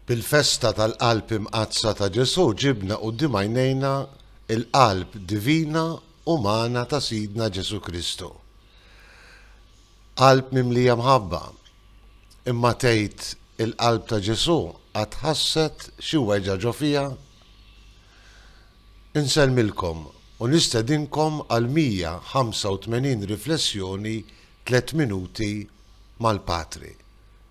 Bil-festa tal-Qalb Imqaddsa ta' Ġesù ġibna quddiem għajnejna l-Qalb divina umana ta' Sidna Ġesù Kristu. Qalb mimlija mħabba. Imma tgħid il-Qalb ta' Ġesù qatt ħasset xi weġgħa ġo fiha? Insellmilkom u nistedinkom għal 185 riflessjoni tliet minuti mal-Patri.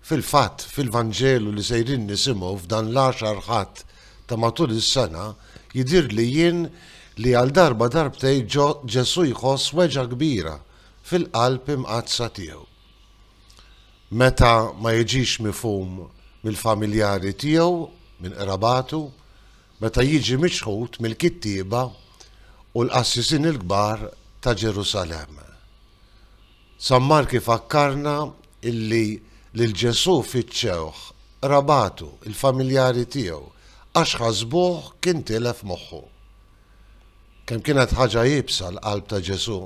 Fil-fatt, fil-Vanġelu li sejrin nisimgħu f'dan l-għaxar Ħadd ta' matul is-sena, jidhirli jien li għal darba darbtejn Ġesù jħoss weġgħa kbira fil-qalb imqaddsa tiegħu. Meta ma jiġix mifhum mill-familjari tiegħu, minn qrabatu, meta jiġi miċħud mill-kittieba u l-qassisin il-kbar ta' Ġerusalemm. San Mark ifakkarna illi lil Ġesù fittxewh qrabatu, il-familjari tiegħu, għax ħasbuh kien tilef moħħu. Kemm kienet ħaġa iebsa l-qalb ta' Ġesù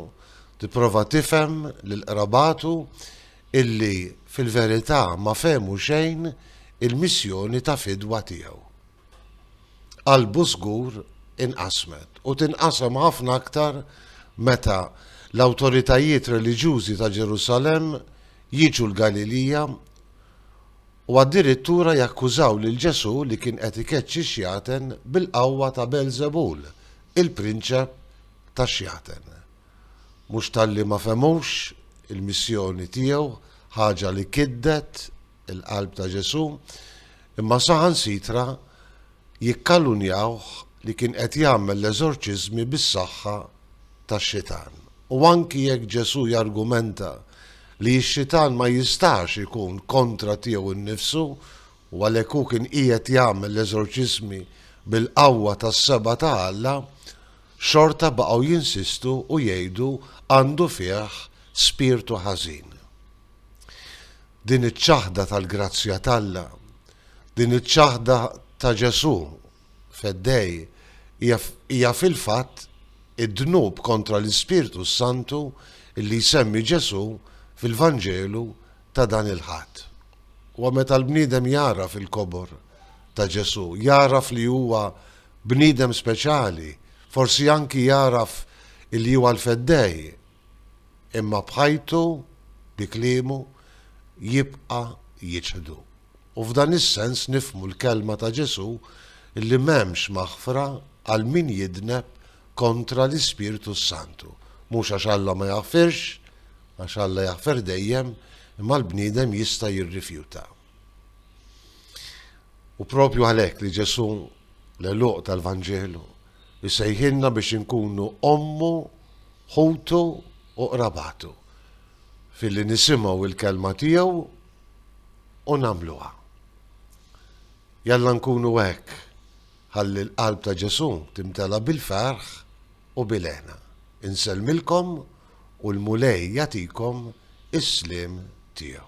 tipprova tifhem lil qrabatu illi fil-verità ma fehmu xejn il-missjoni ta' fidwa tiegħu. qalbu żgur inqasmet u tinqasam ħafna aktar meta l-awtoritajiet reliġjużi ta' Ġerusalemm jiġu l-Galilija u addirittura jakkużaw lil Ġesù li kien qed ikeċċi x-xjaten bil-qawwa ta' Beelżebul, il-prinċep tax-xjaten. Mhux talli ma fehmux il-missjoni tiegħu, ħaġa li kiddet, il-qalb ta' Ġesù, imma saħansitra jikkalunnjawh li kien qed jagħmel l-eżorċiżmi bis-saħħa tax-xitan. U anki jekk Ġesù jargumenta li x-xitan ma jistax ikun kontra tiegħu nnifsu u għalhekk hu kien qiegħed jagħmel l-eżorċiżmi bil-qawwa tas-seba' ta' Alla, xorta baqgħu jinsistu u jgħidu għandu fih spirtu ħażin. din iċ-ċaħda tal-grazzja t'Alla, din iċ-ċaħda ta' Ġesù Feddej hija fil-fatt id-dnub kontra l-Ispirtu s-Santu li jsemmi Ġesù fil-Vanġelu ta' dan il-Ħadd. Huwa meta l-bniedem jagħraf il-kobor ta' Ġesù, jagħraf li huwa bniedem speċjali, forsi anki jagħraf li huwa l-Feddej, Imma b'ħajtu, bi kliemu, jibqa' jiċħdu. U f'dan is-sens nifhmu l-kelma ta' Ġesù li m'hemmx maħfra għal min jidneb kontra l-Ispirtu s-Santu. Mhux għax Alla ma jaħfirx, għax Alla jaħfer dejjem, imma l-bniedem jista' jirrifjuta. U propju għalhekk li Ġesù, l-għeluq tal-Vanġelu, Isejħilna biex inkunu ommu, ħutu u qrabatu, filli nisimgħu l-Kelma tiegħu u nagħmluha. Jalla nkunu hekk, ħalli l-qalb ta' Ġesù timtela bil-ferħ u bil-hena. Insellmilkom u l-Mulej jagħtikom is-sliem tiegħu.